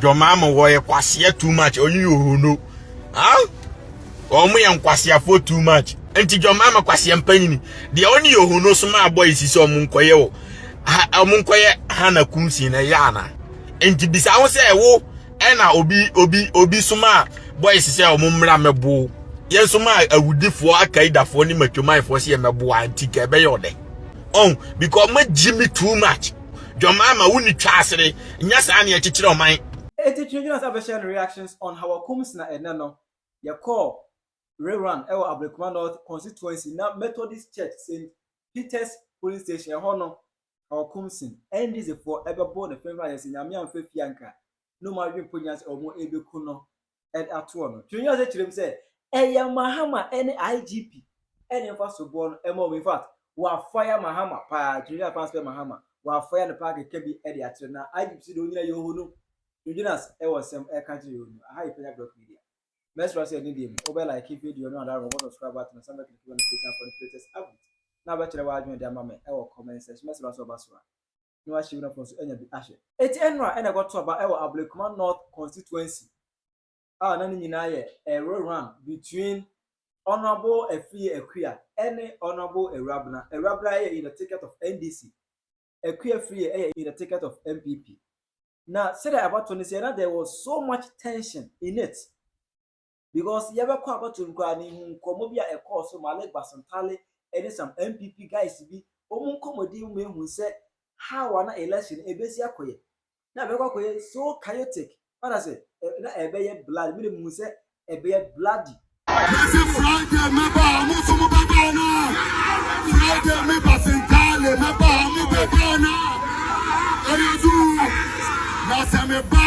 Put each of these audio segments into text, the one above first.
John Mahama wɔ yɛ kwasea too much ɔnye yɛ ohono ah wɔn yɛ nkwaseafoɔ too much nti John Mahama kwasea mpanyini deɛ ɔne yɛ ohono so maa bɔ esi sɛ wɔn nkɔyɛ wɔ ha wɔn nkɔyɛ Hana Kumsi na ɛyɛ ana nti bisa ho sɛ wo ɛna obi obi obi so maa bɔ esi sɛ wɔn mmra mɛbo yɛn so maa awudifoɔ akaidafoɔ ne matwamanfoɔ sɛ yɛ mɛboa nti ka ɛbɛyɛ ɔdɛ ɔn because wɔn agyi me too much. Dwom ama wo ni twa asere. Nyɛ saa na yɛkyekyere ɔman. Enti Twi Gyina Sa bɛhyɛ no Reactions on Hawa Kums Na Ɛnnɛ no, yɛkɔɔ rerun wɔ Ablekuma North Constituency na Methodist Church Saint Peter's Polling Station, ɛhɔ no Hawa Kumsin, NDCfoɔ, ɛbɛboo ne fenfena yɛ sɛ Nyame amfa fie anka na ɔmo adwene mpo nnya sɛ ɔmo ɛɛbɛku no atoɔ no. Tumi nyansa kyerɛ mu sɛ ɛyɛ Mahama ne IGP ne mfa so boɔ no ɛma wɔn. In fact, wɔafaya Mahama paa. Tumi nyansa paa sɛ Mahama wɔafaya no paa kɛkɛ bi de akyerɛ na IGP si de onyina yɛ ohonu. Tumi nyansa ɛwɔ nsɛm ɛka kyerɛ yɛ ohonu. Aha yɛ Panya Blog Media. Mɛsra sɛ ɛne deɛ mu wobɛ like video no anaa wobɔ subscribe button no san bɛ click bɛ notification akɔ ne latest update na wobɛkyerɛ w'adwene de ama me ɛwɔ comment section. Mɛsra sɛ woba so a. na wɔahyɛ Werafoɔ nso anya bi ahyɛ. Eti ɛno a ɛna ɛkɔto aba wɔ Ablekuma North Constituency a na ne nyinaa yɛ a rerun between Honourable Afriyie Akua ne Honourable Awurabena. Awurabena yɛ in the ticket of NDC, Akua Afriyie yɛ in the ticket of NPP. Na sɛdeɛ abatoɔ no si yɛ na there was so much tension in it. because yɛbɛkɔ abɛto no koraa mehu nkɔmmɔ bi a ɛkɔɔ so Malik Basantale ɛne some NPP guys bi wɔn nkɔmmɔdie mu mehu sɛ how a na election no ɛbɛsi akɔyɛ na ɛbɛkɔ akɔyɛ so chaotic what I say na ɛbɛyɛ blood mene mehu sɛ ɛbɛyɛ bloody Ese Friday meba amu sumu bedana. Friday me basentale meba amu bedana. Eyedu na se me ba.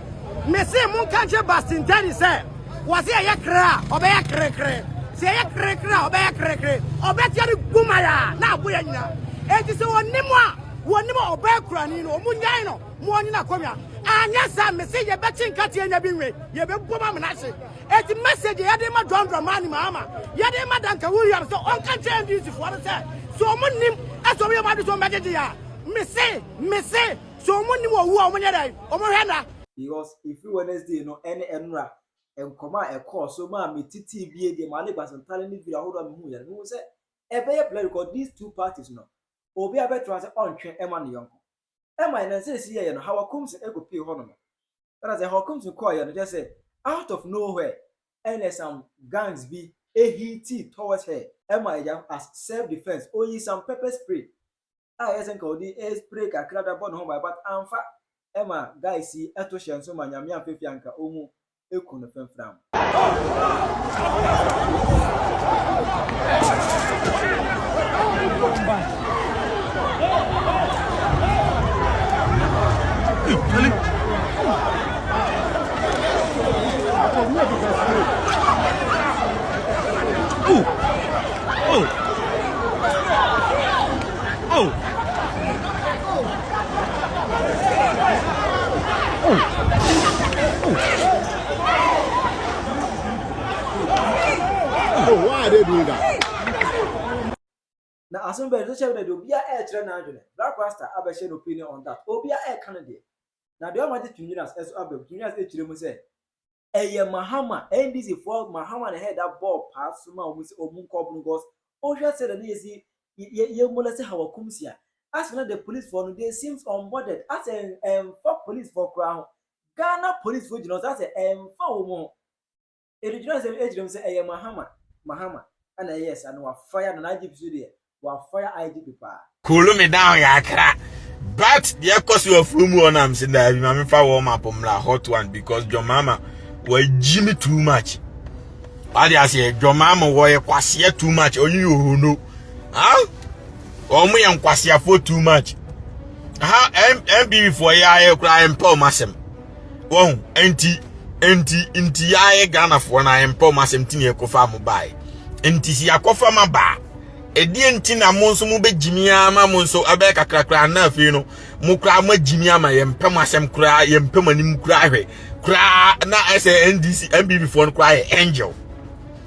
Mese monka nkyerɛ Bastintani sɛ, wɔse ɛyɛ kre a, ɔbɛyɛ krekre. Sɛ ɛyɛ krekre a, ɔbɛyɛ krekre. Ɔbɛteɛ ne gumai a, na abo yɛ nyina. Enti sɛ wɔnne mo a, wɔnne mo a ɔbaa kurani no, wɔn nyan no ma ɔnye no akonnwa. Anyɛ saa, mese yɛbɛkye nkateɛ nya bi nwe, yɛbɛbom amena hye. Enti message a yɛde rema John Dramani Mahama, yɛde rema Duncan Williams sɛ ɔnka nkyerɛ NDC foɔ no sɛ, sɛ wɔn nnim, sɛ wɔn yɛ wɔn adwene sɛ wɔn bɛgyegye yɛn a, mese, mese, So ɔmo nnim owu a ɔmo nyɛ dɛn? Ɔmo hwɛ nna? Because ɛfiri Wednesday no ne ɛnora nkɔmɔ a ɛkɔɔ so maa me titee bie deɛ maa ne base ntare ne video ahodoɔ a mehu yɛ no mehu sɛ ɛbɛyɛ blurry because these two parties no obiara bɛtra sɛ ɔntwe ɛma ne yɔnko ɛma yɛ na nsɛ ɛsi yɛyɛ no Hawa Kumsin ɛkɔ pie hɔ nom ɛna sɛ Hawa Kumsin kɔɔ yɛ no kyɛ sɛ out of nowhere ɛna some gangs bi ɛhiitii towards her ɛma ɛgya as self defense ɔyi some pepper spray a ɛyɛ sɛ nka ɔde spray kakra da bɔ ne ho ban but amfa ɛma guys yi ɛto hyɛ nso ma nyame amfa fi anka ɔmu eku no fɛnfram. Ooh. Na asem bɛn social media deɛ obia ɛɛkyerɛ n'adwene black rasta abɛhyɛ no opinion on that obia ɛɛka ne deɛ na deɛ ɔma gye twin winners ɛso abam twin winners ɛkyerɛ mu sɛ ɛyɛ Mahama NDC foɔ Mahama na head a bɔɔ paa soma wɔn sɛ wɔn nkɔ ɔbɔn gɔs wohwɛ sɛ dɛ na yɛsi yɛ yɛ molɛsi ha wɔ Kumsia asɛ na dɛ police foɔ no they seems unbothered asɛ ɛnfa police foɔ koraa ho Ghana police foɔ gyina hɔ sɛ asɛ ɛnfa wɔn ho ɛdegyina sɛ ɛkyerɛ mu sɛ ɛyɛ Mahama Mahama ɛna ɛyɛ saa na wafaya na n'agye bi so deɛ Cool me down kakra. But the ekosu of room one I'm saying that my me fa warm up mla hot one because your mama was Jimmy too much. What do I say? Your mama was kwasia too much. Oh you who know. Huh? Oh me and kwasia for too much. How MB for ya I cry and poor massem. wɔn nti nti nti yɛayɛ ghanafoɔ no ayɛmpa ɔm asɛm ti ne ɛkɔfa mo bae nti si akɔfa ma baa ɛdeɛ nti na mo nso mobɛgyimi ama mo nso ɛbɛyɛ kakrakra na afei no mo koraa moagyimi ama yɛmpɛ mo asɛm koraa yɛmpɛ mo anim koraa hwɛ koraa na ɛsɛ ndc mbb foɔ no koraa yɛ angel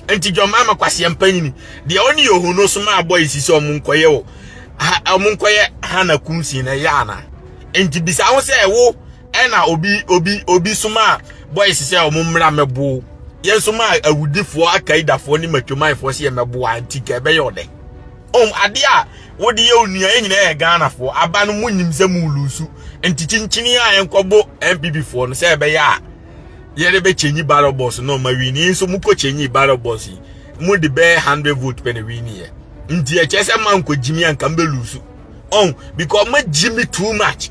nti dwɔma ma kwaseɛ mpanyini deɛ ɔne yɛ ohu no so ma abɔ yi si sɛ ɔmo nkɔyɛ wɔ ɔmo nkɔyɛ hana kunsin na ɛyɛ ana nti bisa ho sɛ wo Ɛna obi obi obi somaa boys sɛ wɔn mmra mmɛbow yɛn somaa awudifoɔ akaidafoɔ ne matwamanfoɔ sɛ yɛmmɛboa nti ka ɛbɛyɛ ɔdɛ ɔm ade a wode yɛ onua yɛ nyinaa yɛ ghanafoɔ aba no mu nyim sɛ mu lusu nti kyinkyini a yɛnkɔbo npp foɔ no sɛ ɛbɛyɛ a yɛde bɛkyɛnyi ballot box no ma wini nso mokɔ kyɛnyi ballot box yi mu de bɛyɛ hundred vote pɛ na wini yɛ nti ɛkyɛ sɛ mankɔ gyimi anka mbɛlusu ɔn because magyimi too much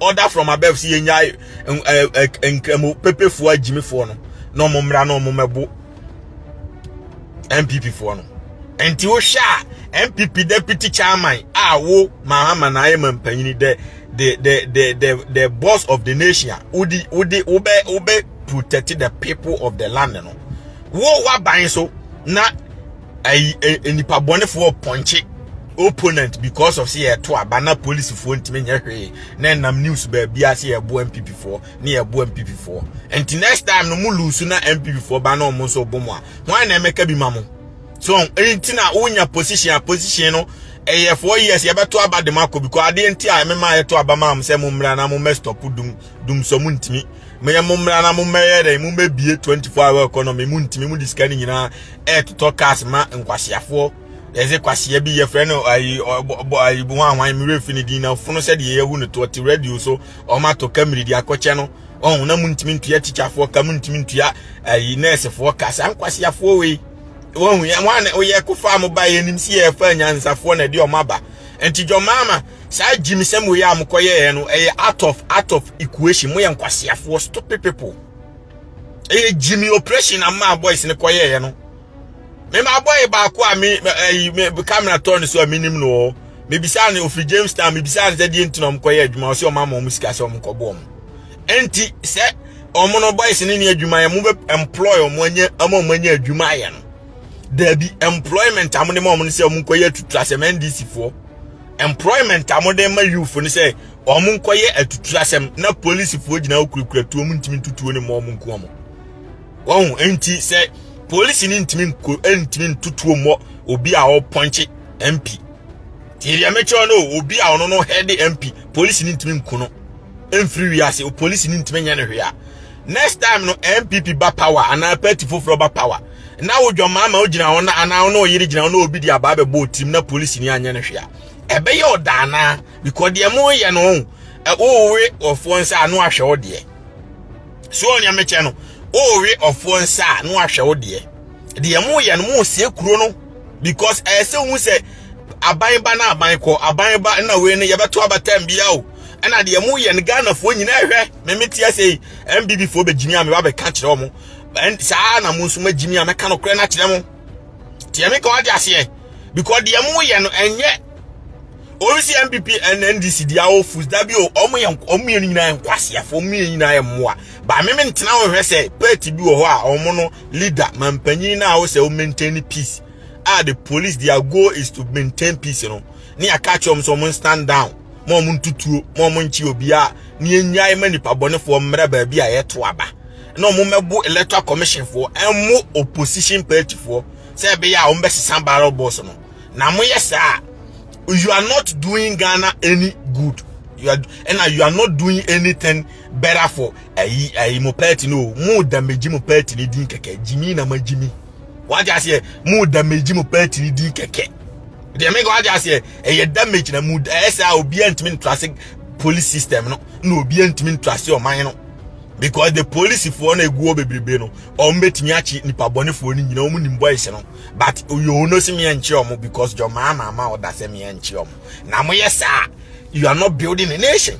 order from above si yɛnyae nkramu pepefoɔ agyimifoɔ no na ɔmo mmra na ɔmo mɛbo npp foɔ no nti wohwɛ a npp deputy chairman a wo mahama na ayɛ ma mpanyini dɛ the the the the the boss of the nation wodi wodi wobɛ wobɛ protect the people of the land no wo waban so na ayi nipa bɔnefoɔ pɔnkye opponent because of sɛ yɛto aba na polisifoɔ ntumi nyɛ hwee na ɛnam news baabi a sɛ yɛboa mpipifoɔ ne yɛboa mpipifoɔ nti next time no mo lusu na mpipifoɔ ba na ɔmo nso bɔ mo a hwan na ɛmɛka bi ma mo so nti na wonya position a position no ɛyɛ four years yɛbɛto aba de mo akɔ because adeɛ nti a ɛmɛma yɛto aba ma mo sɛ mo mmra na mo mɛ stop dum dum so mo ntimi mo yɛ mo mmra na mo mmɛyɛ dɛ mo mmɛbie 24 hour economy mo ntimi mo disika ne nyinaa ɛɛtotɔ cars ma nkwaseafoɔ yɛdze kwasea bi yɛfrɛ no ayi ɔbɔ ayi bi hwan hwan mmerɛ fi ne din na fono sɛdeɛ yɛhu no to ɔte radio so ɔmatɔ kamiri de akɔkyɛ no ɔn na mo ntimi ntua tikyafoɔ ka mo ntimi ntua ayi nɛɛsefoɔ ka saa nkwaseafoɔ wei wɔn yɛ wɔn a wɔyɛ kofa mo ba yɛ nim si yɛ fa nyansafoɔ na ɛde ɔmo aba nti dwɔmaama Saa gyimsɛm wei a mokɔyɛɛ no ɛyɛ out of out of equation moyɛ nkwaseafoɔ stupid people ɛyɛ gyimi operation a maa boys no kɔyɛɛ no mema boy baako a me ɛyi me camera tɔ ne so a menim no ɔ mebisa ne ofi Jamestown mebisa ne sɛ deɛ nti na ɔmo kɔyɛ adwuma ɔsɛ ɔmo ama ɔmo sika sɛ ɔmo kɔbɔ ɔmo ɛnti sɛ ɔmo no boys no ne adwuma yɛ mo bɛ employ ɔmo anya ama ɔmo anya adwuma yɛ no daabi employment a mo de ma ɔmo no sɛ ɔmo nkɔyɛ atutura sɛ mɛ ndc foɔ employment a wɔde ma youth no sɛ wɔn nkɔyɛ atutu asɛm na polisifoɔ gyina hɔ kurakura tuo mu ntumi ntutuo ne mmɔ wɔn nko wɔn wɔn nti sɛ polisi no ntumi nko ntumi ntutuo mmɔ obi a ɔpɔnkye mp tie deɛ mekyerɛ no obi a ɔno no hɛde mp polisi no ntumi nko no mfiri wiase polisi no ntumi nyɛ no hwee a next time no mpp ba power anaa party foforɔ ba power na wo dwammaa ma wogyina hɔ na anaa wo ne ɔyere gyina hɔ na obi de abaa bɛbɔ otim na polisi ni anyɛ no hwɛ a ɛbɛyɛ ɔda anaa because deɛ mo yɛ no ho wowe ɔfoɔ nsa a no ahwɛ wo deɛ so ɔnea mekyɛ no wowe ɔfoɔ nsa a no ahwɛ wo deɛ deɛ mo yɛ no mo sie kuro no because ɛyɛ sɛ ohun sɛ aban ba na aban kɔ aban ba na wei no yɛbɛto abatam bia o ɛna deɛ mo yɛ no ghanafoɔ nyinaa hwɛ meme te ase mbb foɔ bɛgyimi a meba bɛka kyerɛ wɔn And saa ara na mo nso magye me a mɛka no korɛ no akyerɛ mo. Tiɛ me ka wate aseɛ. Because deɛ mo yɛ no ɛnyɛ obi si NPP and NDC deɛ awo fus dabi o ɔmo yɛ ɔmo mmienu nyinaa yɛ nkwaseafo ɔmo mmienu nyinaa yɛ mmoa. Ba me me ntena ho hwɛ sɛ party bi wɔ hɔ a ɔmo no leader mampanyin na awo sɛ o maintain peace. Ah the police their goal is to maintain peace no. Ne aka kyerɛ ɔmo sɛ ɔmo stand down. Mo ɔmo ntutuo mo ɔmo nkye obiara ne enyae ma nipa bɔnefoɔ mmerɛ baabi a yɛto aba. na wɔn mmɛbo electoral commission foɔ ɛmo opposition party foɔ sɛ ɛbɛyɛ a wɔn bɛsesa barrel boss no na mo yɛ saa you are not doing Ghana any good you are and you are not doing anything better for ayi ayi mo party no mo damage mo party ni din kɛkɛ jimmy na ma jimmy wagye aseɛ mo damage mo party ni din kɛkɛ deɛ meka wagye aseɛ ɛyɛ damage na mo ɛyɛ sɛ a obiara ntumi ntra se police system no na obiara ntumi ntra se ɔman no because the police for na egu obebrebe no wɔn betumi akyi nipa bɔnefoɔ no nyinaa wɔn nim boys no but oyoo no si mìɛ nkyerɛ wɔn because jɔ maa maa ma ɔda sɛ mìɛ nkyerɛ wɔn na mo yɛ saa you are not building a nation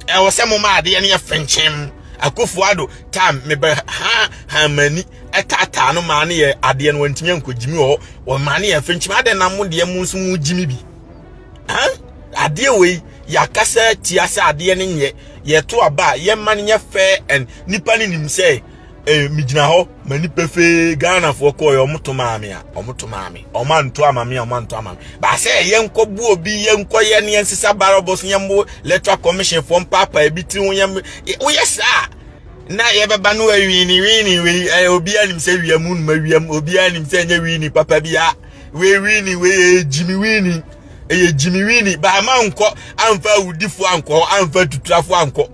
ɛwɔ sɛ mo ma adeɛ no yɛ fɛnkyɛn akofo ado time mebɛ ha ha mani ɛtaataa no maa no yɛ adeɛ no wɔntumi nkɔ gyimi wɔ wɔn maa no yɛ fɛnkyɛn adeɛ na mo deɛ mo nso mo gyimi bi. adeɛ wei yɛakasa atia sɛ adeɛ no nyɛ yɛto aba a yɛma no nyɛ fair and nipa no nim sɛ eh, megyina hɔ ma nipa fee ghanafoɔ kɔɔ yɛ ɔmoto maa me a ɔmoto maa me ɔmo anto ama me a ɔmo anto ama me baasɛ yɛnkɔbu obi yɛnkɔyɛ ne yɛnsesa barabɔs yɛmbo electoral commission foɔ mpaapa ebi tiri ho yɛm woyɛ saa na yɛbɛba no awini wini wei obiara nim sɛ wiam numa wiam obiara nim sɛ ɛnyɛ wini papa bi a wei wini wei yɛ gyimi wini ɛyɛ gyimi wini baama nkɔ amfa awudifo ankɔ hɔ amfa tuturafo ankɔ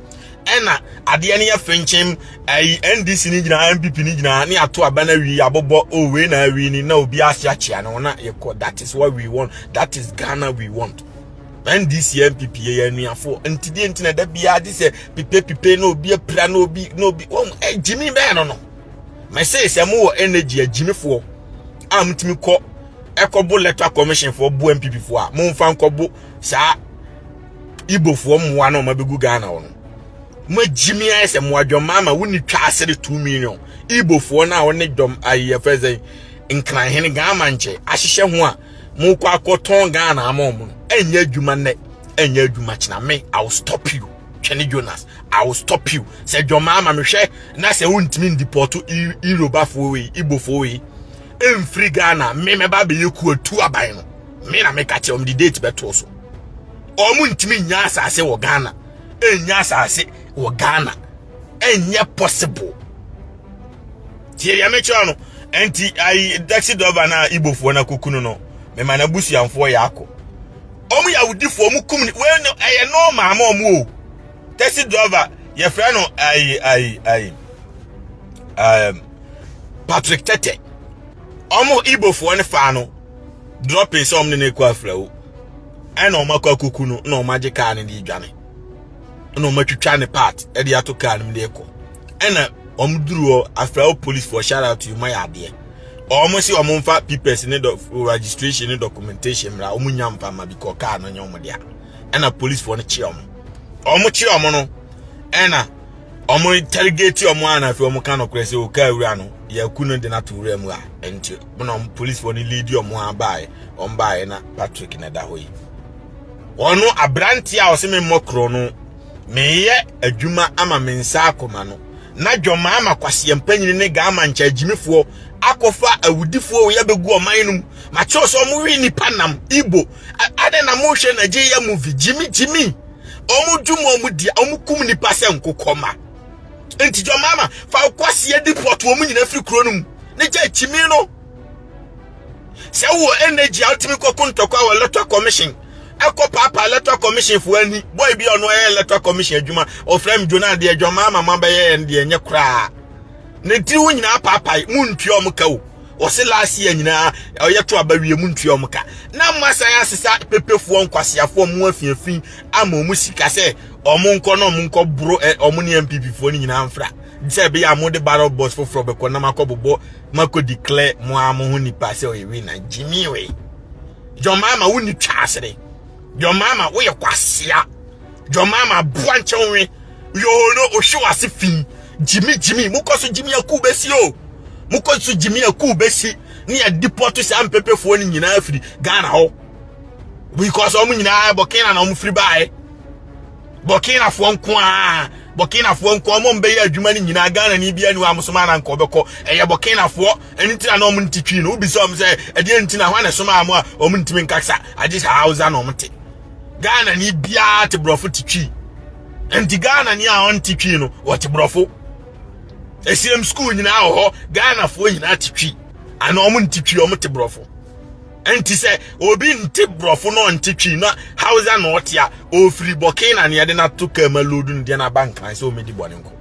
ɛna adeɛ no yɛ fenkyem ayi ndc no nyinaa npp no nyinaa ne ato aba no awi abobɔ o oh, wei na awi ni na obi ase akyea no na yɛkɔ that is what we want that is ghana we want ndc npp yɛ anuafoɔ ntideɛ nti na da biara gye sɛ pipepipe na obi apira na obi na obi wɔn gyimi bɛɛ no no mɛsee sɛ mo wɔ energy agyimifoɔ a motumi kɔ ɛkɔbo electoral commission foɔ bo mpp foɔ a momfa nkɔbo saa ibofoɔ mmoa na ɔma bɛgu ghana wɔ no moagyimi ayɛ sɛ mo adwɔma ama wonni twa ase de 2 million ibofoɔ no a wɔne dɔm ayɛfɛ sɛ nkranhene ghama nkyɛ ahyehyɛ ho a mokɔ akɔtɔn ghana ama ɔmo no ɛnyɛ adwuma nnɛ ɛnyɛ adwuma kyena me i will stop you twɛne jonas i will stop you sɛ dwɔma ama mehwɛ na sɛ wontumi ndipɔto irobafo wei ibofo wei mfiri ghana me mɛba bɛyɛ kuatu aban no me na meka kyerɛ wɔn de date bɛtoo so wɔn ntumi nya asase wɔ ghana ɛnya asase wɔ ghana ɛnyɛ possible tie deɛ mekyerɛ no ɛnti ayi taxi driver no a ibofoɔ no akokunu no mema no abusuamfoɔ yɛ akɔ wɔn yɛ awodifoɔ wɔn kum ne wɔn ɛyɛ nɔɔma ama wɔn o taxi driver yɛfrɛ no ayi ayi ayi um, patrick tete ɔmo ibofoɔ no faa no dropping sɛ ɔmo ne no akɔ afrawo ɛna ɔmo akɔ akuku no na ɔmo agye kaa no de adwane ɛna ɔmo atwitwa ne part ɛde ato kaa no de kɔ ɛna ɔmo duru hɔ afrawo policefoɔ shout out to you mayɛ adeɛ ɔmo se ɔmo mfa papers ne registration ne documentation mmra ɔmo nya mfa ma bi kɔ kaa no nyɛ ɔmo dea ɛna policefoɔ no kyeɛ ɔmo ɔmo kyeɛ ɔmo no ɛna ɔmo interrogate ɔmo a na afei ɔmo ka nokorɛ sɛ ɔkaa wura no yɛaku no de no ato wura mu a ɛnti na ɔmo policefoɔ no leadi ɔmo a baeɛ ɔmo baeɛ na Patrick na ɛda hɔ yi ɔno aberanteɛ a ɔse me mmɔ korɔ no meyɛ adwuma ama me nsa akoma no na dwɔmaa ma kwaseɛ mpanyini ne gaa ma nkyɛ agyimifoɔ akɔfa awudifoɔ yɛbɛgu ɔman no mu makyɛw sɛ ɔmo we nipa nam ibo Adɛn na mohwɛ Nigeria movie gyimi gyimi ɔmo dwom ɔmo di ɔmo kum nipa sɛ nkokɔma nti jɔ mama fa ɔkɔseɛ di pɔt ɔmo nyina firi kuro no mu ne gya kyimi no sɛ wowɔ energy a wotumi kɔko ntɔkwa wɔ electoral commission ɛkɔ paapa electoral commission foɔ ani bɔi bi ɔno ɛyɛ electoral commission adwuma ɔfrɛ m dwona deɛ dwɔ mama ma bɛyɛ ɛn deɛ nyɛ koraa ne tiri ho nyinaa paapae mu ntua ɔmo ka o wɔsi last year nyinaa ɔyɛ to aba wie mu ntua ɔmo ka na mo asan asesa pepefoɔ nkwaseafoɔ mo afiafi ama ɔmo sika sɛ ɔmo nkɔ na ɔmo nkɔ boro ɛ ɔmo ne npp foɔ no nyinaa mfra sɛ ɛbɛyɛ a mo de barrel box foforɔ bɛkɔ na mo akɔ bobɔ mo akɔ declare mo ara mo ho nipa sɛ ɔyɛ wei na gyimi wei john mahama wo ni twa asere. John Mahama woyɛ kwasea. John Mahama aboa nkyɛ wo nwe. Yoo no ohwe wase fi. Jimmy Jimmy mokɔ so Jimmy aku besi o. Mokɔ so Jimmy aku besi. Ne ya deport saa mpepefoɔ no nyinaa firi Ghana hɔ. Because wɔn nyinaa Burkina na wɔn firi baeɛ. Burkina foɔ nko a Burkina foɔ nko a wɔn bɛyɛ adwuma no nyinaa Ghana ni bi anu amusoma na nkɔ bɛkɔ. Ɛyɛ Burkina foɔ ɛno nti na na wɔn nte twi no wobisa wɔn sɛ ɛdeɛ nti na hɔ na ɛsomaa mo a wɔn ntumi nkasa agye sɛ hausa na wɔn te ghana ni biara te borɔfo te twi nti ghana ni a ɔnte twi no wɔte borɔfo ɛsiam skuul nyinaa wɔ hɔ ghanafoɔ nyinaa te twi ana wɔn nte twi wɔn te borɔfo nti sɛ obi nte borɔfo na ɔnte twi na hausa na ɔte a ɔfiri bɔkee na neɛde no ato kaa ma lodu no deɛ no aba nkran sɛ ɔmɛdi bɔne nko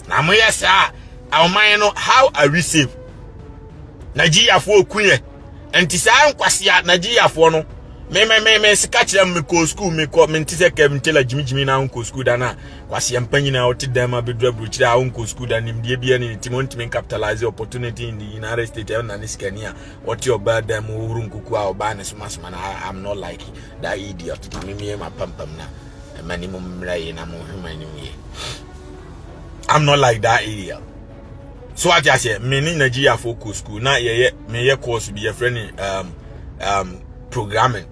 na mo yɛ saa a ɔman no how are we safe nigeriafoɔ ku yɛ nti saa nkwasi a nigeriafoɔ no memememe sika kyerɛ me kɔ sukuu mekɔ mente sɛ kɛm ntela gyimigyimi na wonkɔ sukuu da no a kwaseɛ mpa nyina a wote dɛm a bɛduru aburokyire a wonkɔ sukuu da nimdeɛ bia ne ne tim wontumi capitalize opportunity in the united states ɛna ne sikani a wɔte ɔbaa dɛm wohoro nkuku a ɔbaa ne somasoma no i'm not like that idiot mamemie mapampam no ɛma ne mu mmra yie na mo nhwema anim yie i'm not like that ariel so ate aseɛ me ne nigeriafoɔ kɔ school na yɛyɛ meyɛ course bi yɛfrɛ ne um, um, programming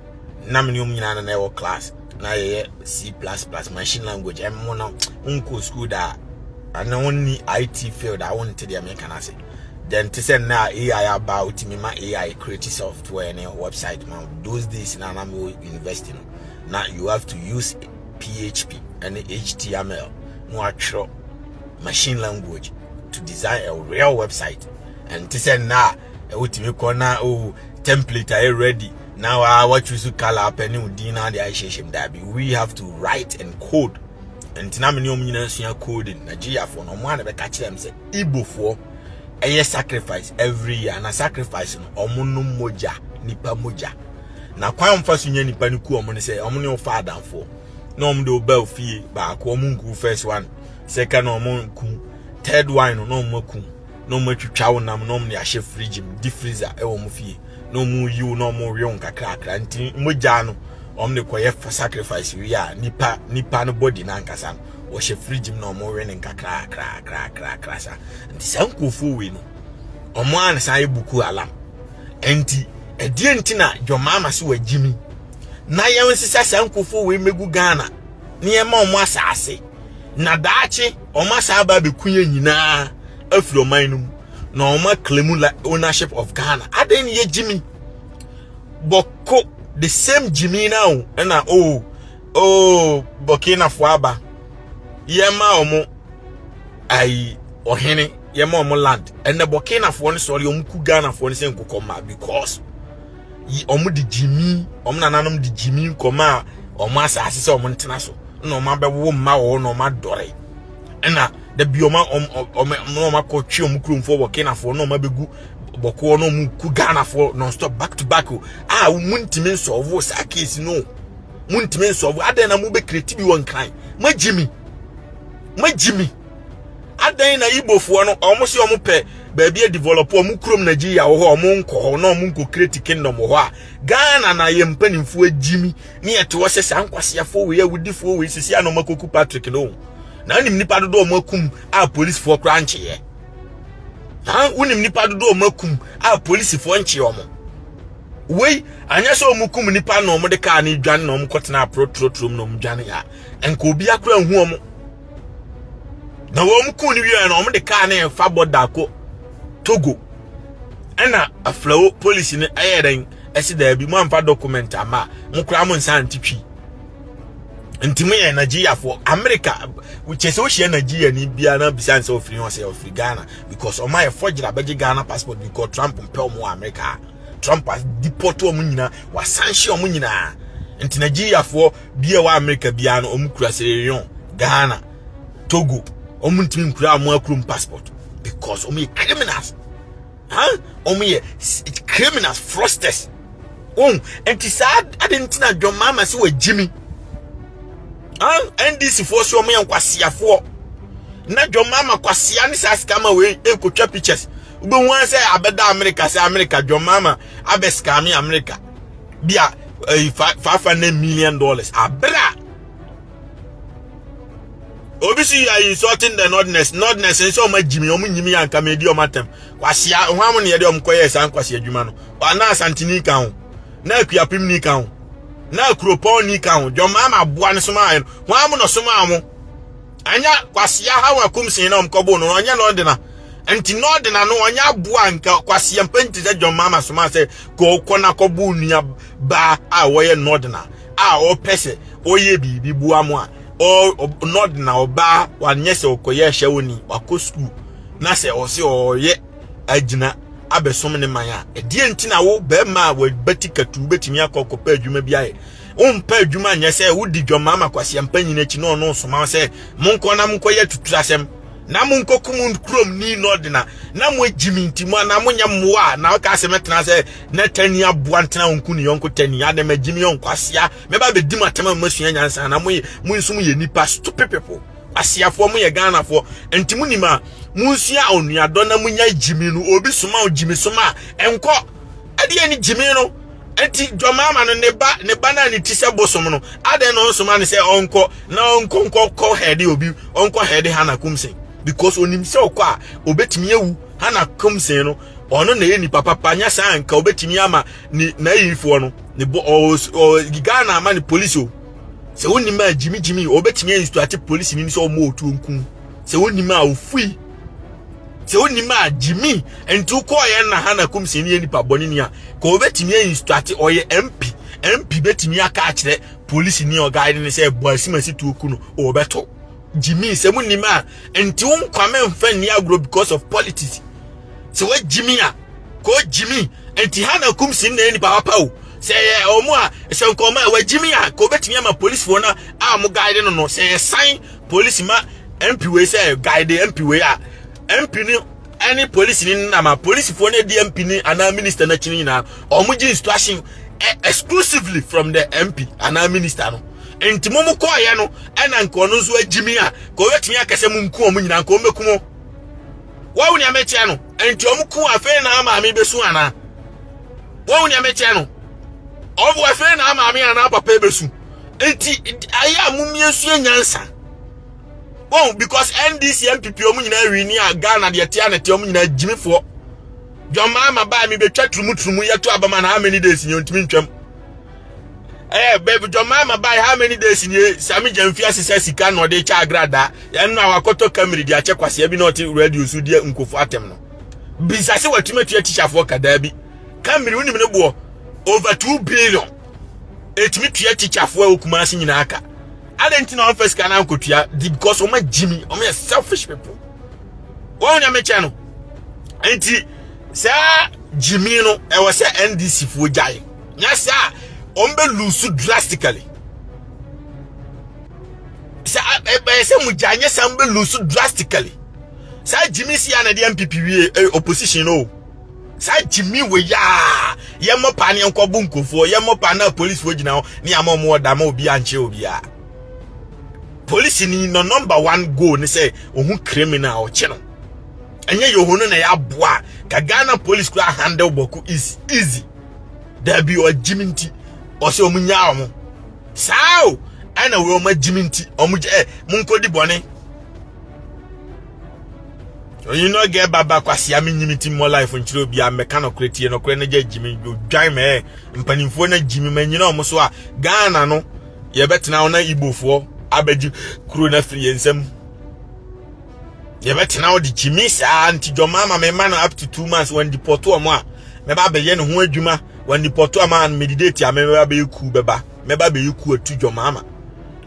na me ne ɔm nyinaa na na ɛwɔ class na yɛyɛ c plus plus machine language ɛmo no wonkɔ school daa ɛne wonni it field a wonte deɛ meka no ase then te sɛ nnɛ a ai aba a wotumi ma ai create software ne website ma those days na na mewɔ university no na you have to use php and html na watwerɛ machine language to design a real website and te sɛ nna a wotumi kɔ na o oh, template ayɛ ready na wa wa choose color apɛ ne wo din na de ahyehyɛ mu daabi we have to write and code nti na mene ɔm nyinaa sua coding nigeriafoɔ no ɔmo a na bɛka kyerɛ m sɛ igbofoɔ ɛyɛ sacrifice every year na sacrifice no ɔmo no mogya nipa mogya na kwan mfa so nya nipa no ku ɔmo ne sɛ ɔmo ne ɔfa adamfoɔ na ɔmo de ɔba ofie baako ɔmo nku first one second na ɔmo nku third one no na ɔmo aku na ɔmo atwitwa wo nam na ɔmo de ahyɛ fridge mu di freezer ɛwɔ ɔmo fie na ɔmo yiw na ɔmo wew nkakrakra nti mogya no ɔmo de kɔyɛ fa sacrifice wie a nipa nipa no body no ankasa no wɔhyɛ fridge mu na ɔmo we no nkakrakrakrakrakra sa nti saa nkurɔfoɔ wei no ɔmo ansa ayɛ buku alam Enti, ɛdeɛn nti na John Mahama se wagye mi na yɛn nsesa saa nkurɔfoɔ wei mmɛgu Ghana na yɛma wɔn asaase na daakye wɔn asaa ba abɛku yɛn nyinaa afiri ɔman no mu na wɔn aklemu ownership of Ghana adɛn ne yɛgye mi bɔko the same gyimi na o ɛna o oh, o oh, bɔkinafoɔ aba yɛma wɔn ayi ɔhene yɛ ma ɔmo land ɛnna bɔkinafoɔ no sɔre ɔmo ku ghanafoɔ no sɛ nkokɔ mmaa because yi ɔmo de gyimi ɔmo nananom de gyimi nkɔmaa ɔmo asaase sɛ ɔmo ntena so na ɔmo abɛwo mma wɔ hɔ na ɔmo adɔre ɛnna dabi ɔmo ɔmo ɔmo ɔmo akɔ twe ɔmo kuromfoɔ bɔkinafoɔ na ɔmo abɛgu bɔkoɔ na ɔmo ku ghanafoɔ non stop back to back o a mo ntumi nsɔɔvo saa case no mo ntumi nsɔɔvo adɛn na mo bɛ kireti bi wɔ nkran mo agyimi mo agyimi. Adɛn na Igbofoɔ no, wɔn se wɔn pɛ baabi adevelop wɔn kurom Nigeria wɔ hɔ a wɔn nkɔ hɔ na wɔn nkɔ create kingdom wɔ hɔ a Ghana na yɛ mpanimfoɔ agyimi ne yɛte hɔ sɛ saa nkwaseafoɔ wei awudifoɔ wei sisi a na wɔn akɔku Patrick no na wonim nipa dodoɔ wɔn akum a polisifoɔ koraa nkyeeɛ ha wonim nipa dodoɔ wɔn akum a polisifoɔ nkyeeɛ wɔn wei anyɛ sɛ wɔn kum nipa na wɔn de kaa ne dwane na wɔn kɔtena aporɔ turoturom na wɔn dwane a nka obi akora nhu wɔn na wɔn kuu no wieɛ no wɔn de kaa no ɛfa bɔda kɔ togo ɛna aflawo polisi no ɛyɛ dɛn ɛsi daabi mo amfa document ama mo koraa mo nsa nte twi nti mo yɛ nigeriafoɔ amerika kyɛ sɛ wohyia nigeria ni biara na bisa nsɛ ɔfiri hɔ sɛ ɔfiri ghana because ɔma yɛ fɔgyera bɛgye ghana passport because trump mpɛ ɔmo wɔ amerika trump deport ɔmo nyinaa wasanhye ɔmo nyinaa nti nigeriafoɔ bia wɔ america bia no ɔmo kura sierra leone ghana togo ɔmo ntumi nkura ɔmo akurom passport because ɔmo yɛ criminals ha ɔmo yɛ criminals frosters wɔn nti saa adi nti na john mahama sɛ wɔ gyimi ha ndc foɔ so ɔmo yɛ nkwasiafoɔ na john mahama kwasia ne saa scammer wei ekotwa pictures wobɛhu sɛ abɛda america sɛ america john mahama abɛ scammer america bia eh, five hundred million dollars abira obi si you are insulting the nordness nordness nso ɔmo agyimi ɔmo nyimi yɛ anka medi ɔmo atɛm kwasia ho amu ne yɛde ɔmo kɔyɛ saa nkwasi adwuma no ɔna asantini ka ho na akuapem ni ka ho na akuropɔn ni ka ho dwɔmaa ma aboa no soma ayɛ no ho amu na ɔsoma ɔmo Anya kwasia haw akumsin na ɔmkɔbo no ɔnyɛ na ɔdena nti na ɔdena no ɔnyɛ aboa nka kwasia mpɛnti sɛ John Mama soma sɛ kɔkɔ na kɔbo nua baa a wɔyɛ na ɔdena a ɔpɛ sɛ ɔyɛ biribi boa mo a na ɔdena ɔbaa wanyɛ sɛ ɔkɔyɛ hyɛwoni wakɔ sukuu na sɛ ɔse ɔyɛ agyina abɛsom ne man a ɛdeɛ nti na wo bɛrima a wabati katu wobɛtumi akɔ kɔpɛ adwuma bi ayɛ Wompɛ adwuma nyɛ sɛ wodi dwammaama kwaseampa nyina akyi na ɔno nsoma wo sɛ monkɔ na monkɔyɛ atuturasɛm na monkɔkum kurom ni na ɔde na na moagyi me nti mo anaa monyɛ mmoa a na ɔka sɛ mɛtena sɛ na tani aboa ntena ɔnko ne yɔnko tani adɛ magyi me yɔnko asea mɛba bɛdi matam a moasua nyansa na moyɛ mo nso moyɛ nnipa stupid people aseafoɔ moyɛ ghanafoɔ nti monim a monsua onuadɔ na monya gyimi no obi soma wo gyimi soma a ɛnkɔ ɛdeɛ ne gyimi no Enti dɔmmarima no, ne ba, ne ba no a ne ti sɛ bosom no, adɛn na ɔnsoma no sɛ ɔnkɔ na ɔnkɔ nkɔ kɔ hɛde obi, ɔnkɔ hɛde Hana Kumsen? Because onim sɛ ɔkɔ a obetumi awu. Hana Kumsen no, ɔno na ɛyɛ nipa papa, nya saa nka obetumi ama ne n'ayifoɔ no ne bɔ ɔɔ Ghana ama ne polisi o. Sɛ wonim a gyimi gyimi, obetumi a instruate polisi ni sɛ ɔmo otuo nkun. Sɛ wonim a ofui. sɛ wonim a gyimi nti wokɔɔyɛ na ha na kumsie no yɛ nipa bɔne ni a ka wɔbɛtumi ainstuate ɔyɛ mp mp bɛtumi aka akyerɛ polisi ni ɔgaade ne sɛ ɛbɔ asimasi tuo ku no wɔbɛto gyimi sɛ mu nim a nti wo nkwame mfa nni agorɔ because of politics sɛ woagyimi a ka ɔgyimi nti ha na kumsie no na yɛ nipa wapa o sɛ yɛ ɔmo a sɛ nkɔmɔ a wagyimi a ka wɔbɛtumi ama polisifoɔ no a ɔmo gaade no no sɛ yɛsan Polisi ma MP wei sɛ guide MP wei a MP ni ɛne polisi ni nam a polisifoɔ no di MP ni anaa minister no akyi no nyinaa wɔn gye instruction e, exclusively from the MP anaa minister no nti mo mo kɔɔyɛ no ɛna nka ɔno nso agyimi a ka ɔbɛtumi akɛ sɛ mo nku wɔn nyinaa nka wɔn bɛku mo wɔn nea mɛkyerɛ no nti wɔn ku afei na maame bɛsu anaa wɔn nea mɛkyerɛ no wɔn afei na maame anaa papa bɛsu Nti ayɛ a mom yɛnsua nyansa. Wɔn because NDC MPP wɔn nyinaa wi ni a Ghana deɛ tia na tia wɔn nyinaa gyimifoɔ. John Mahama baa mi betwa turumu turumu yɛto abama na how many days ni ontumi ntwam. Eh, baby John Mahama baa how many days ni eh, sami gyamfi asesa sika na ɔde kyɛ agrada. Yɛn no a wakɔtɔ kamiri de akyɛ kwasea bi na ɔte radio so deɛ nkofo atɛm no. Bisa se watumi atua tikyafoɔ kadaa bi. Kamiri wonim ne boɔ over 2 billion. ɛtumi tua tikyafoɔ a wɔkuma ase nyinaa ka adɛn nti na wɔmfa sika no ankɔtua di because wɔma gyimi wɔyɛ selfish people wɔn na mekyɛ no nti saa gyimi no ɛwɔ sɛ ndc foɔ gyae nyɛ sɛ a wɔbɛlusu drastically sɛ ɛbɛyɛ sɛ mo gyae nyɛ sɛ wɔbɛlusu drastically saa gyimi si a na ɛde mpp wie opposition no o saa gyimi wɔ yi a yɛmmɔ paa ne yɛnkɔ bu nkurɔfoɔ yɛmmɔ paa na polisifoɔ gyina hɔ ne ama ɔmo ɔda ma obi ankyerɛ obi a polisi ni no number one goal ne sɛ ohun criminal ɔkye no ɛnyɛ yɛ ohun na yɛ aboa ka ghana polisi kura handle bɔko is easy dabi ɔgyimi nti ɔsɛ ɔmo nya ɔmo saa o ɛna wɔn agyimi nti ɔmo gyɛ ɛ mo nkɔdi bɔne ɔnyi no gɛ baba kwasia me nyimi ti mo life nkyerɛ obi a mɛka no korɛ tie no korɛ no gya gyimi dwan mɛ mpanimfoɔ no gyimi ma nyina ɔmo so a Ghana no yɛbɛtena hɔ na Igbofoɔ abɛgye kuro no afiri yɛn nsam yɛbɛtena hɔ de gyimi saa nti dwɔma ma mɛma no up to two months wɔn dipɔto ɔmo a mɛba abɛyɛ ne ho adwuma wɔn dipɔto a ma medidate a mɛba abɛyɛ kuu bɛba mɛba bɛyi ku atu dwom ama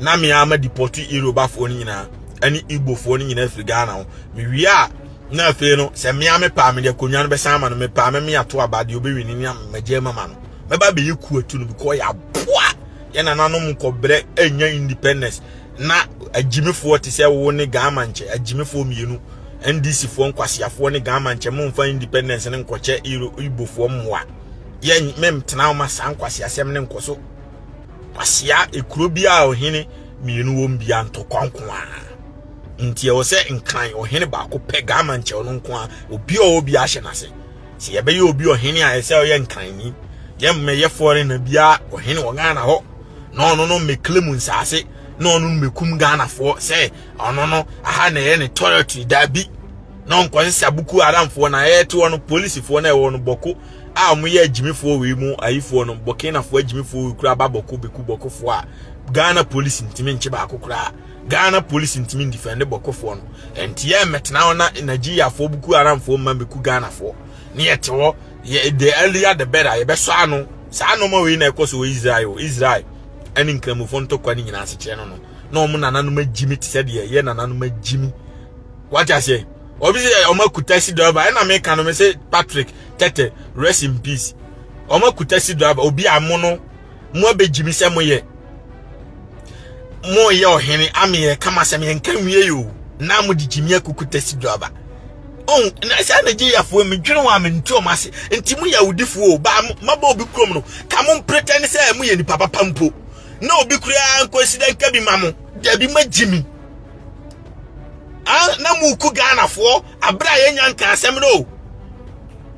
na me ara ma depɔte Yorubafoɔ no nyinaa ɛne Igbofoɔ no nyinaa firi Ghana ho mewie a na afei no sɛ mmea me paa mede akonnwa no bɛsan ama no me paa mɛme ato aba deɛ ɔbɛwi no ne amagye mama no mɛba bɛyi ku atu no bikɔ yɛaboa yɛ nananom nkɔbrɛ ɛnya independence na agyimifoɔ te sɛ wo ne Ghana nkyɛ agyimifoɔ mmienu NDC foɔ nkwaseafoɔ ne Ghana nkyɛ momfa independence no nkɔkyɛ Igbofoɔ mmoa yɛ mentena wo ma saa nkwasi asɛm ne nkɔso kwasia ekuro bi a ɔhene mmienu wɔm bi anto kɔnko a nti ɛwɔ sɛ nkran ɔhene baako pɛ gama nkyɛw no nko a obi a obi ahyɛ n'ase sɛ yɛbɛyɛ obi ɔhene a ɛsɛ ɔyɛ nkran ni yɛmmɛyɛ fɔre na bia ɔhene wɔ ghana hɔ na ɔno no mmɛkle mu nsaase na ɔno no mmɛkum ghanafoɔ sɛ ɔno no aha na ɛyɛ ne territory daabi na ɔnkɔsese abuku aramfoɔ na ɛte hɔ no polisifoɔ na ɛwɔ no bɔko a wɔyɛ agyimifoɔ wei mu ayifoɔ no bɔkenafoɔ agyimifoɔ wei kura ba bɔko bɛku bɔkofoɔ a ghana polisi ntumi nkye baako koraa ghana polisi ntumi ndifɛnde bɔkofoɔ no ɛnti yɛ mmɛtena hɔ na nigeriafoɔ buku aramfoɔ mma bɛku ghanafoɔ ne yɛte hɔ yɛ the earlier the better yɛbɛsɔ ano saa nɔɔma wei na ɛkɔ so wɔ israel israel ɛne nkramofoɔ ntɔkwa ne nyinaa asekyerɛ no no na wɔn nananom agyimi te sɛ deɛ yɛ nananom agyimi wate aseɛ obi sɛ ɔmo akuta si driver ɛna me ka no me sɛ Patrick tɛtɛ rest in peace ɔmo akuta si driver obi a mo no mo abɛgyi me sɛ mo yɛ mo yɛ ɔhene ameyɛ kama sɛ me nka nwie yi o na mo de gyi me akuku tɛsi driver ɔn oh, na saa na gye yafoɔ mi dwene wɔn a me nti ɔmo ase nti mo yɛ awudifoɔ o ba mabɔ obi kurom no ka mo mpretɛn sɛ mo yɛ nipa papa mpo na obi kura nkɔ si dɛ nka bi ma mo dabi ma gyi mi. Ah, na muku Ghanafoɔ abere a yɛnya nka asɛm no o.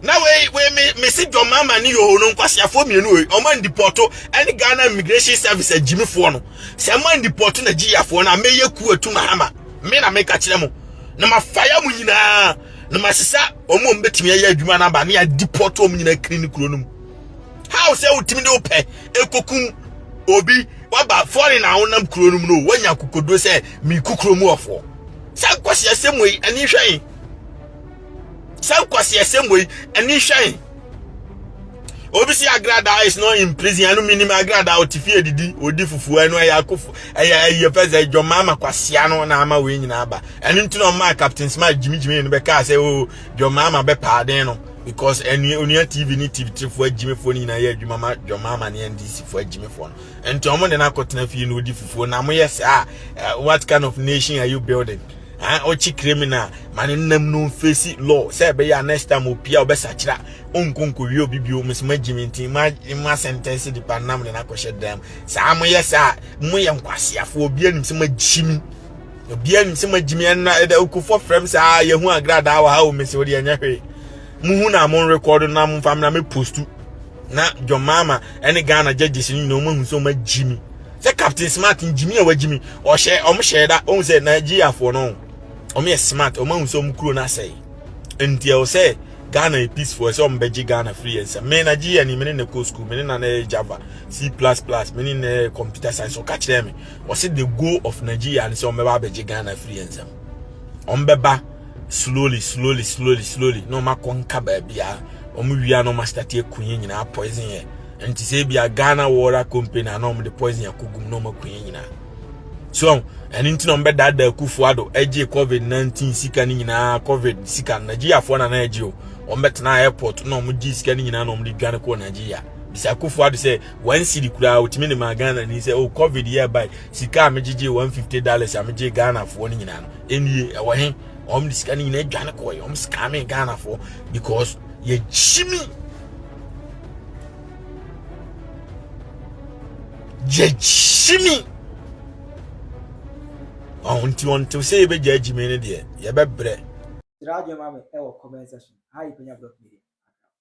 na wei wei me me si John Mahama ne Yoho no nkwaseafoɔ mmienu wei ɔmo andipɔto ɛne Ghana Immigration Service agyimifoɔ no sɛ mo andipɔto na gyiyafoɔ no a mɛyɛ ku atu Mahama me na meka kyerɛ mo na mafaya mo nyinaa na masesa ɔmo a ɔmo bɛtumi ayɛ adwuma no aba ne adipɔto ɔmo nyinaa kiri ne kuro no mu how sɛ wotumi de wopɛ ekokum obi waba foreign a wonam kuro no mu no wanya kokodo sɛ meku kuro mu ɔfoɔ saa nkwasi asɛm wei ani hwɛn saa nkwasi asɛm wei ani hwɛn obi si agrada is not in prison ɛno minim agrada ɔte fie didi odi fufuo ɛno ɛyɛ akofo ɛyɛ ɛyɛ fɛ sɛ ɛdwɔ maa ma kwasia no na ama wei nyinaa ba ɛno nti na ɔmaa captain smart gyimigyimi no bɛkaa sɛ o oh, dwɔ maa ma bɛpaaden no because ɛnua onua tv ne tv tirifo agyimifo no nyinaa yɛ adwuma ma dwama ama ne ndc fo agyimifo no nti wɔn de no akɔtena fie na odi fufuo na wɔyɛ saa eh, what kind of nation are you building ah ɔkyi criminal ma ne nam no nfesi law sɛ ɛbɛyɛ a next time opia ɔbɛsakyera onkonkowie obi bio mesoma gyimi nti ma ma sentence de pa nam ne no akɔhyɛ dam saa moyɛ saa moyɛ nkwaseafoɔ obi anim sɛ magyimi obiara nim sɛ magyimi ɛnna ɛda okofo frɛ me sɛ a yɛhu agradaa wɔ ha o mese wode ɛnyɛ hwee muhu na mo rekɔdo na momfa me na me postu na John Mahama ɛne Ghana judges no nyinaa wɔn ahu sɛ wɔn agyimi sɛ Captain Smart ngyimi a wagyimi ɔhyɛ wɔn hyɛ da wɔn sɛ Nigeriafoɔ no wɔn yɛ smart wɔn ahu sɛ wɔn kuro no asɛe nti ɛwɔ sɛ Ghana yɛ peaceful ɛsɛ wɔn bɛgye Ghana firi yɛn nsam me Nigeria ni me ne na kɔ school me ne na na yɛ Java C plus plus me ne na yɛ computer science ɔka kyerɛ me wɔse the goal of Nigeria ne sɛ wɔbɛba abɛgye Ghana afiri yɛn nsam wɔbɛba slowly slowly slowly slowly na wɔakɔ nka baabi a wɔn wia na wɔastate aku yɛn nyinaa poison yɛ nti sɛ bi a Ghana Water Company a na wɔde poison akɔgum na wɔaku yɛn nyinaa so ɛno nti na wɔbɛdaadaa akufoɔ ado agye covid 19 sika no nyinaa covid sika no nigeriafoɔ na na agye o wɔbɛtena airport na wɔgye sika no nyinaa na wɔde dwane kɔɔ nigeria bisa akufoɔ ado sɛ one city koraa wotumi de maa ghana ni sɛ o oh, covid yɛ bae sika a megyegye one fifty dollars a megye ghanafoɔ no nyinaa no ɛnie ɛwɔ he wɔn de sika no nyinaa adwane kɔɛ wɔn sika me ghanafoɔ because yɛgye mi yɛgye mi ɔho nti wɔn ntew sɛ yɛbɛgya agyi mi no deɛ yɛbɛbrɛ. Sra adwuma mi ɛwɔ comment section. Hi, Penya Block Media.